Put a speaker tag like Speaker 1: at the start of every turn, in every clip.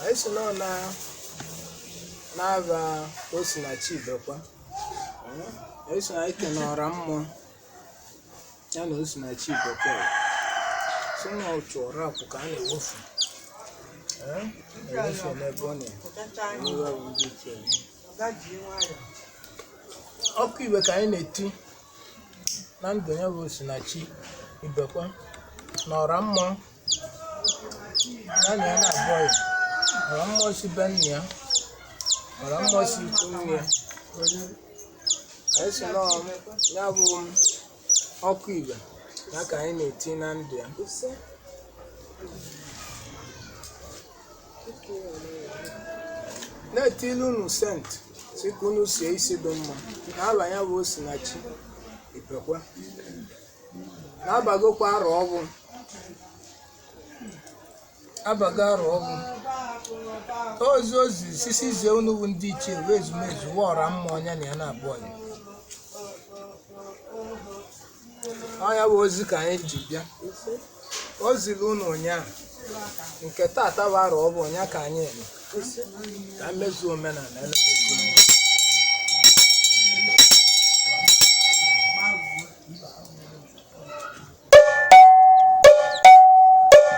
Speaker 1: anyị si nọ na n'afa Osinachi Ibekwe anyị si na anyị kene ọra mmụọ ya na Osinachi Ibekwe si na otu ọra akwụ ka a na-ewefu Eh, ewefu n'ebe ọ na-ewe ọkụ ife ka anyị na-eti na ndụ ya bụ Osinachi Ibekwe na ọra mmụọ ya na ya na-abụọ ya ọra mmụọ si be nna ya ọra mmụọ si ikwu nne ya anyị si na ọ ya bụ ọkụ ife ya ka anyị na-eti na ndụ ya na-etili unu sent si ka unu sie isi dị mma na afa ya bụ osinachi ibekwe na a bagokwa arọ ọfụụ a bago arọ ọfụụ ozi o zi si si zie unu bụ ndị ichie wụ ezumezu ọra mmụọ ya na ya na-abụ ọnya ọ ya bụ ozi ka anyị ji bịa o ziri unu ụnyaahụ nke tata bụ arọ ọfụụ ọ ya ka anyị eme ka mezuo omenala elekwasị unu.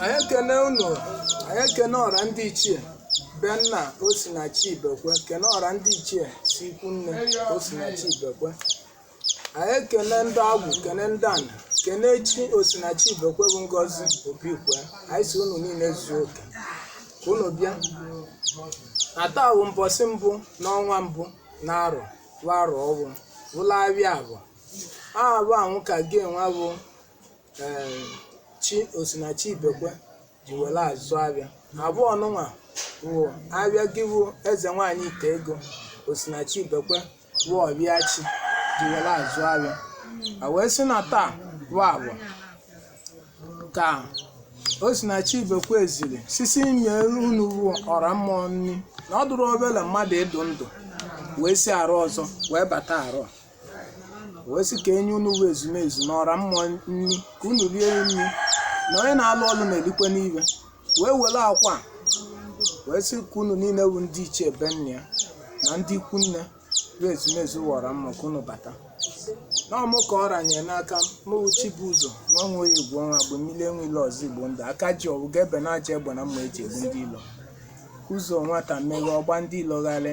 Speaker 1: anyị ekene unu anyị ekene ọra ndị ichie be nna osinachi ibekwe kene ọra ndị ichie si ikwu nne osinachi ibekwe anyị ekene ndị agwụ kene ndị ana kene chi osinachi ibekwe bụ ngozi obikwe anyị si unu niile zuo oke ka unu bịa na taa bụ mbọsị mbụ n'ọnwa mbụ na arọ bụ arọ ọfụụ bụlụ afịa afọ afọ anwụ ka gịnwa bụ ee chi osinachi ibekwe ji were azụ afịa afọ nụnwa wụ afịa gị wụ eze nwaanyị ite ego osinachi ibekwe wụ afịa chi ji were azụ afịa a wee sị na taa bụ afọ ka osinachi ibekwe ziri si si nye unu wụ ọra mmụọ nri na ọ dụrọ ofele mmadụ ịdụ ndụ wee si arọ ọzọ wee bata arọ a wee sị ka e nye unu bụ ezumezu na ọra mmụọ nri ka unu rie nri na onye na-alụ ọlụ na-erikwenụ ife wee were akwa wee sị ka unu niile bụ ndị ichie be nne ya na ndị ikwu nne bụ ezumezu ọra mmụọ ka unu bata na ọmụ ka ọ ranyere n'aka mụwụ chibuzo nwa nwe ya egwu ọnwa agba mmiri enwe ilo ọzọ igbo ndụ aka ji ọgwụ ga ebe na-aja egbe na mma e ji egbu ndị ilo ụzọ nwata meghe ọ gba ndị ilo gharị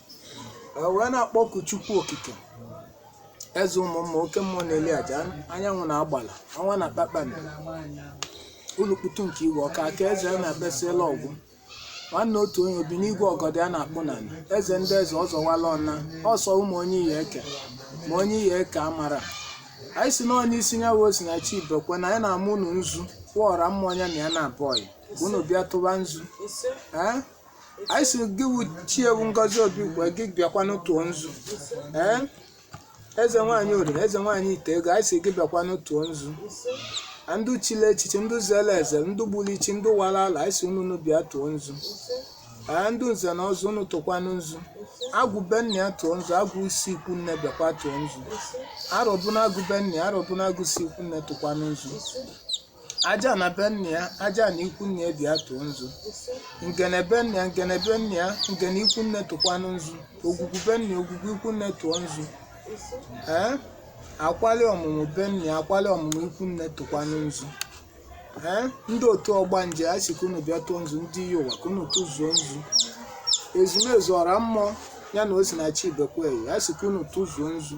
Speaker 1: E wee na-akpọku Chukwu Okike, Eze ụmụ mma, oke mmụọ na-eli aja, anyanwụ na agbala, ọnwa na kpakpando, ulukputu nke igwe, ọka aka eze a na-abịasịela ọgwụ, nwanne otu onye, o bi n'igwe ọgọdọ ya na-akpụ n'ala, eze ndị eze ọ zọwala ọna, ọsọ ụmụ onye iyi eke, ma onye iyi eke amara. Anyị sị na ọ n'isi ya wụ Osinachi Ibekwe na anyị na-ama unu nzu, kpọọ ọra mmụọ ya na ya na-abụ ọyị, ka unu bịa tụba nzu. Ee? anyị sị gị wụ chi ewu ngozi obi ugbu a, gị bịakwanụ tụọ nzu ee eze nwaanyị oriri eze nwaanyị ite ego anyị sị gị bịakwanụ tụọ nzu na ndị chili echichi ndị zere eze ndị gburu ichi ndị wara ala anyị sị unu bịa tụọ nzu ee ndị nze na ọzọ unu tụkwanụ nzu agwụ be nna ya tụọ nzu agwụ si ikwu nne bịakwa tụọ nzu arọbịnagụ be nna ya arọbịnagụ si ikwu nne tụkwanụ nzu ajana be nna ya ajana ikwu nne ya bịa tụọ nzu ngene be nna ya ngene be nna ya ngene ikwu nne tụkwanụ nzu ogwugwu be nna ya ogwugwu ikwu nne tụọ nzu ee akwali ọmụmụ be nna ya akwali ọmụmụ ikwu nne tụkwanụ nzu ee ndị otu ọgbanje a sị ka unu bịa tụọ nzu ndị iyi ụwa ka unu tụzuo nzu ezumezu ọra mmụọ ya na Osinachi Ibekwe yi a sị ka unu tụzuo nzu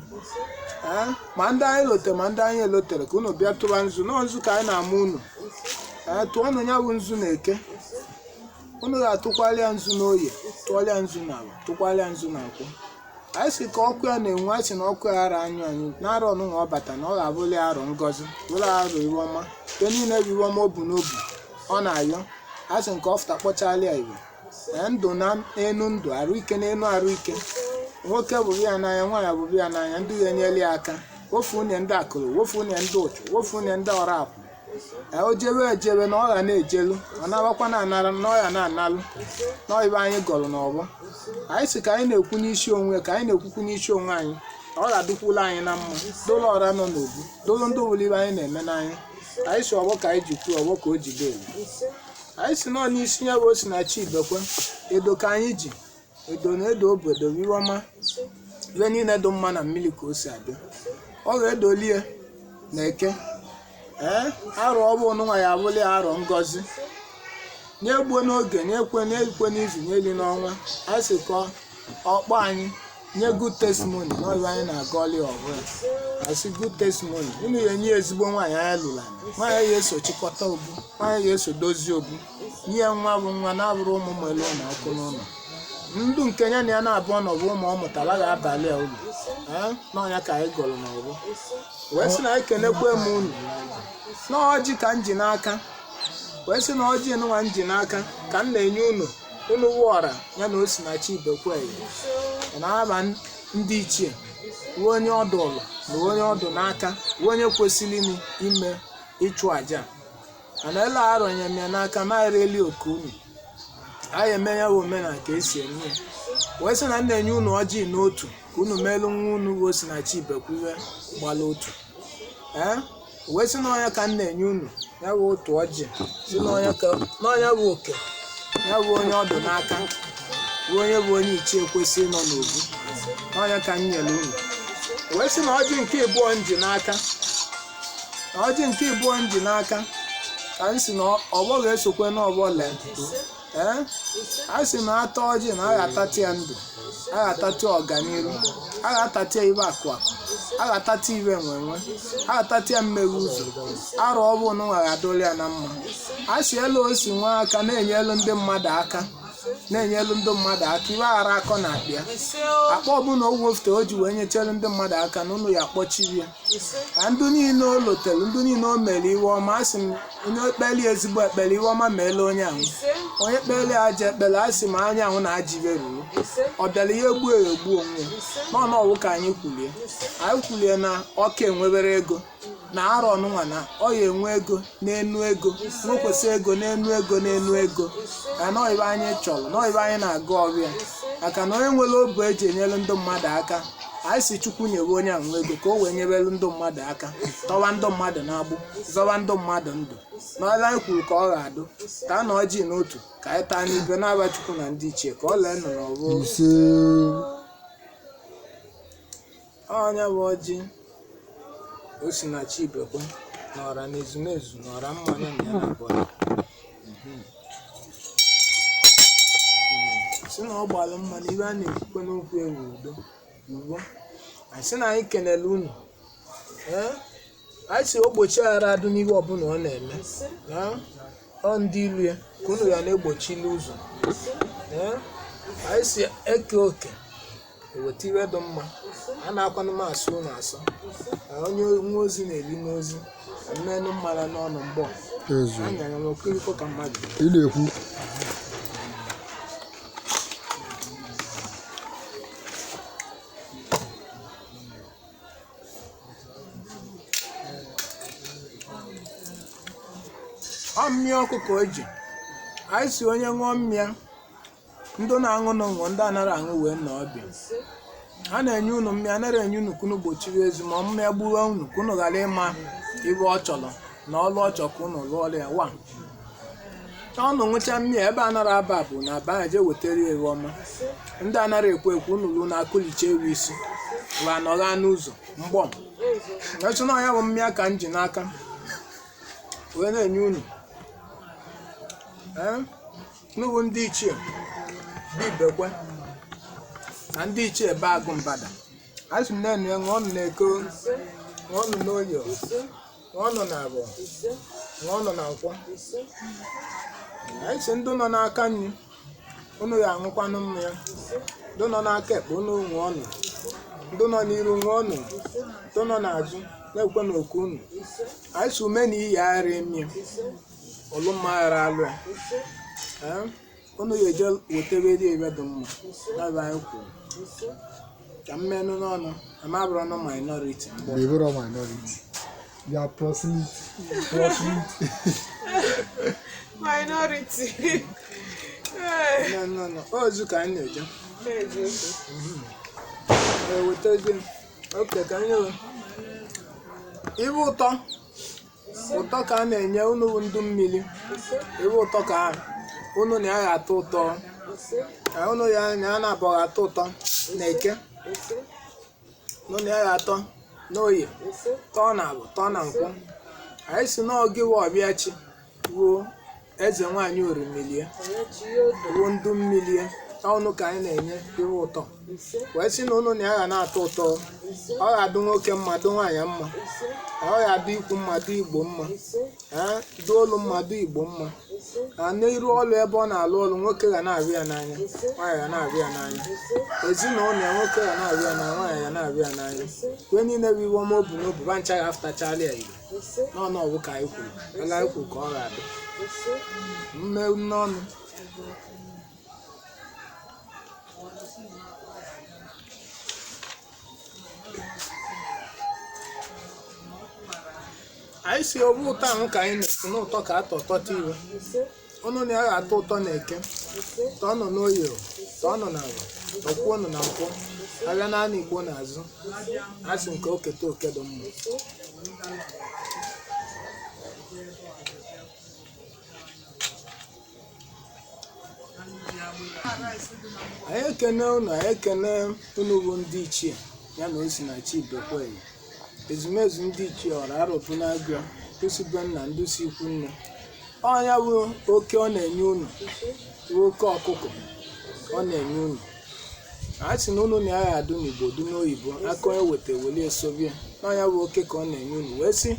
Speaker 1: ee ma ndị anyị lotere ma ndị anyị elotere ka unu bịa tụba nzu na ọ nzu ka anyị na-ama unu ee tụọnụ ya bụ nzu na eke unu ga-atụkwara ya nzu n'oye tụọrọ ya nzu n'afọ tụkwara ya nzu na nkwọ anyị sị ka ọkụ ya na-enwu anyị sị na ọkụ ya ara anyụ anyụ na arọ ọnụnwa ọ bata na ọ ga-abụrụ ya arọ ngọzi bụrụ ya arọ iwe ọma nke niile bụ iwe ọma o bu n'obu ọ na-ayọ a sị nke ọ fụta kpọchala ya iwe Ee, ndụ n'enu ndụ arụ ike n'enu arụ ike nwoke wụrụ ya n'anya nwaanyị wụrụ ya n'anya ndị ya-enyela ya aka wofu unye ndị akụrụ wofu unye ndị ụchụ wofu unye ndị ọrụ akwụ Ee, o jewe ejewe na ọ ga na-ejelu ọ nawakwa anawa na ọ ya na-analụ na ọ iwe anyị gọrọ n'ọfọ anyị sị ka anyị na-ekwu n'isi onwe ka anyị na-ekwukwu n'isi onwe anyị ọ ga-adịkwula anyị na mma dolo ọra nọ n'obu dolo ndị wụrụ iwe anyị na-eme n'anya anyị sị ọfọ ka anyị ji kwuo ọfọ ka o jide elu anyị sị na ọ n'isi ya bụ Osinachi Ibekwe edo ka anyị ji edo na-edo obodo iwe ọma iwe niile dị mma na mmiri ka o si abịa ọ ga-edoli e n'aka ee arọ ọ bụ nwa ya abụla ya arọ ngọzi nye gboo n'oge nyekwe n'izu nyeli n'ọnwa anyị sị ka ọ kpọọ anyị nye good testimony na ọ bụ anyị na-agọlị ọfọ ya a sị good testimony unu ya-enye ya ezigbo nwaanyị anyị lụrụ anyị nwaanyị ya-eso chịkọta obu nwaanyị ya-eso dozie obu nye ya nwa bụ nwa na-abụrụ ụmụ melu na ọkụ n'ụlọ ndụ nke ya na ya n'abụọ na ọ bụ ụmụ ọ mụtara ga-abalị ya ulu ee na ọ ya ka anyị gọrọ n'ọfọ wee sị na anyị kenekwe m unu na ọjị ka m ji n'aka wee sị na ọjị nwa m ji n'aka ka m na-enye unu unu wụọra ya na Osinachi Ibekwe n'aba ndị ichie bụ onye ọdụ ụlọ na onye ọ dụ n'aka bụ onye kwesịrị ime ime ịchụ aja mana ele arọnye m ya n'aka na-ereli oke unu anyị eme ya bụ omenala ka esi eme ya wee sị na m na-enye unu ọjị n'otu ka unu meelu nwa unu bụ Osinachi Ibekwe gbara otu ee O wee sị na ọ ya ka m na-enye unu ya bụ otu ọjị sị na ọ ya ka na ọ ya bụ oke ya bụ onye ọ dụ n'aka bụ onye bụ onye ichie kwesịrị nọ n'obu na ọ ya ka m nyere unu O wee sị na ọjị nke ịbụọ m ji n'aka na ọjị nke ịbụọ m ji n'aka ka m sị na ọ- ọgbọ ga-esokwe n'ọgbọ lee ee a sị na ata ọjị na a ga-atati ya ndụ a ga-atati ọganiru a ga-atati ya ibe akụ akụ a ga-atati ibe enwe enwe a ga-atati ya mmeghe ụzọ arọ ọnụnwa ga-adụrụ ya na mma a sị elu o si nwee aka na-enyelu ndị mmadụ aka na-enyelu ndị mmadụ aka iwe aghara akọ n'akpa ya akpa ọbụla o wefute o ji wee nyechere ndị mmadụ aka na ụlọ ya kpọchiri ya na ndị niile o lotere ndị niile o mere iwe ọma a sị m onye kpeli ezigbo ekpele iwe ọma meela onye ahụ onye kpeli ajọ ekpele a sị m onye ahụ na ajọ ibe ruru ọ bịara ya egbuo ya egbuo onwe ya n'ọnụ ọwụ ka anyị kwulie anyị kwulie na ọ ka enwebere ego na arọ ọnụnwa na ọ ya enwe ego n'enu ego nwekwasị ego n'enu ego n'enu ego ka na ọ ibe anyị chọrọ na ọ ibe anyị na-agọrọ ya maka na onye nwere obu eji enyere ndị mmadụ aka anyị sị Chukwu nyewe onye ahụ ego ka o wee nyebere ndị mmadụ aka tọwa ndị mmadụ n'agbụ zọwa ndị mmadụ ndụ n'ọla anyị kwuru ka ọ ga-adụ ka a na ọjị n'otu ka anyị taa n'ibe n'aba Chukwu na ndị ichie ka ọ lee nọ n'ọbụ ise ọ ya bụ ọjị Osinachi Ibekwe na ọra na ezumezu na ọra mmanya na ya na abụọ si na ọ gbalụ mma na ibe a na-ekwukwe n'okwu ewu udo ugbo anyị sị na anyị kenele unu ee anyị sị ogbochi aghara adụ n'ihe ọbụla ọ na-eme Ee, ọ ndị ilu ya ka unu ya na-egbochili ụzọ Ee, anyị sị eke oke eweta iwe dị mma a na-akwanụ m asụ ụlọ asọ Ka onye nwe ozi na-eli n'ozi mmenụ mmara n'ọnụ mgbọ ezu anya ya n'okiriko ka mmadụ ị na-ekwu ọ mmịa ọkụ ka e ji anyị sị onye ṅụọ mmịa ndị na-aṅụ na ṅụọ ndị anara aṅụ wee nọ ọbịa a na-enye unu mmịa anara enye unu ka unu gbochiri ezi ma mmịa gbuwe unu ka unu ghara ịma ibe ọ chọrọ na ọlụ ọ chọ ka ụnụ lụọla ya wa ụnụ ṅụcha mmịa ebe anara aba bụ na aba ya jee wetara ya ewu ọma ndị anara ekwe ekwe ụnụ lụ na-akụlicha ewu isi wa nọgha n'ụzọ mgbọ a sị na ya bụ mmịa ka m ji n'aka wee na-enye unu Ee, unu bụ ndị ichie be ibekwe na ndị ichie be agụ mbada a sị m na-enye ṅụọnụ na eke ṅụọnụ n'oye ṅụọnụ na avọ ṅụọnụ na nkwọ anyị sị ndị nọ n'aka nri unu ya aṅụkwanụ mmanya ndị nọ n'aka ekpe unu ṅụọnụ ndị nọ n'iru ṅụọnụ ndị nọ n'azụ na-ekwe n'oku unu anyị sị ume na iyi ara emi ọlụ mma ghara alụ ya Ee? unu ga-eje wetebe ive dị mma n'ebe anyị kwuru ka mmenụ n'ọnụ amabụrụ ọnụ minority mgbe They were all minority.
Speaker 2: They are proselyte. Proselyte.
Speaker 3: minority
Speaker 1: mmenụ n'ọnụ ozu ka anyị na-eje ewetezi oke ka anyị ewe ive ụtọ ụtọ ka a na-enye unu bụ ndụ mmili ive ụtọ ka ahụ unu na ya ga-atọ ụtọ ka unu ya na ya na-abọ ga-atọ ụtọ na eke unu na ya ga-atọ n'oye tọọ na avọ tọọ na nkwọ anyị sị n'oge wa ọbịa chi ruo eze nwaanyị orimili ruo ndụ mmili ụnụ ka anyị na-enye ihe ụtọ wee sị na ụnụ na ya ga na-atọ ụtọ ọ ga-adụ nwoke mma dụ nwaanyị mma ọ ga-adụ ikwu mma dụ ibe mma ee dụ olu mma dụ igbo mma na n'iru ọlụ ebe ọ na-alụ ọlụ nwoke ga na-avụ ya n'anya nwaanyị ga na-avụ ya n'anya ezinụlọ ya nwoke ga na-avụ ya n'anya nwaanyị ga na-avụ ya n'anya ive niile bụ ive ọma o bu n'obu va ncha ga-afụtachala ya igbo n'ọnụ ọgwụ ka anyị kwuru ala anyị kwuru ka ọ ga-adị mme n'ọnụ anyị sị ọ bụ ụtọ ahụ ka anyị na-ekwu n'ụtọ ka atọ tọta ive ụnụ na ya atọ ụtọ na eke tọọnụ n'oye tọọnụ n'avọ tọkwuonụ na nkwọ abịa naanị igbo n'azụ a sị nke o keta oke dị mma anyị ekene ụnụ anyị ekene ụnụ bụ ndị ichie ya na osinachi ibekwe ezumezu ndị ichie ọra Arọbịnagụ ndị si be nna ndị si ikwu nne ọ ya bụ oke ọ na-enye unu bụ oke ọkụkọ ọ na-enye unu a sị na unu na ya ga-adụ n'Igbo dị n'oyibo aka onye weta weli esobie na ọ ya bụ oke ka ọ na-enye unu wee sị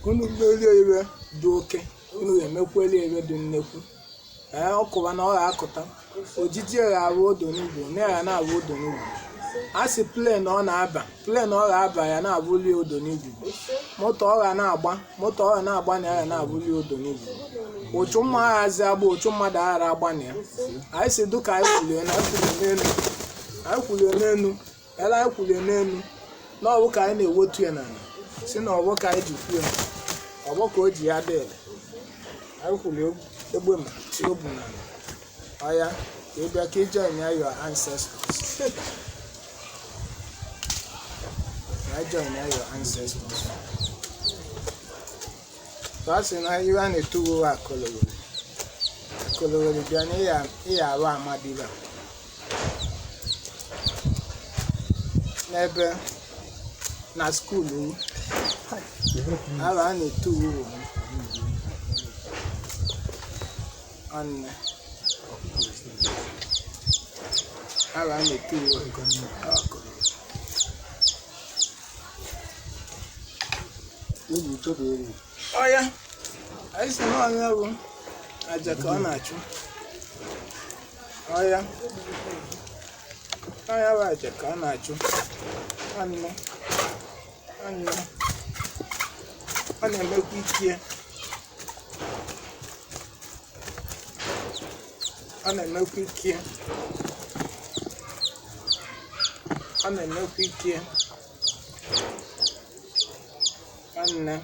Speaker 1: unu melie ife dị oke unu ga-emekweli ife dị nnekwu ee ọ kụwa na ọ ga-akụta ojiji ya ga-abụ odo n'ugbo na ya na-abụ odo n'ugbo a sị plane ọ na-aba plane ọ ga-aba ya na-abụli odo n'ugbo moto ọ ga na-aba moto ọ ga na-aba na ya na-abụli odo n'ugbo ụchụ mma aghazi agba ụchụ mmadụ aghara agba na ya anyị si dụka anyị kwulie na anyị kwulie n'elu anyị kwulie n'elu ela anyị kwulie n'elu na ọ wụ ka anyị na-ewetu ya n'ala sị na ọ wụ ka anyị ji kwuo ya ọ wụ ka o ji ya dị ele anyị kwulie egbe ma tie obu n'ala ọ ya ka ị bịa ka ị join ya your ancestors ka anyị join ya your ancestors ka ọ sị na iwe a na-etuwo akọlowere akọlowere bịa na ịya arụ amadiba n'ebe na skuulu m afa a na-etu uwe ọnne afa a na-etu uwe ọkụ Eji chọpụ eri. ọ ya anyị sị na ọ ya bụ aja ka ọ na-achụ ọ ya ọ ya bụ aja ka ọ na-achụ anụ anụ ọ na-emekwa ike ọ na-emekwa ike ọ na-emekwa ike nwanne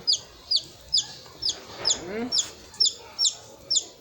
Speaker 1: Mm.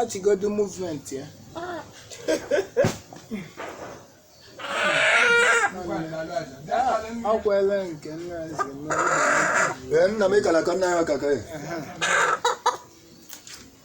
Speaker 1: ọchịgodu movement ya akwele nke nna eze
Speaker 2: nna m ịkara ka nna ya kaka ya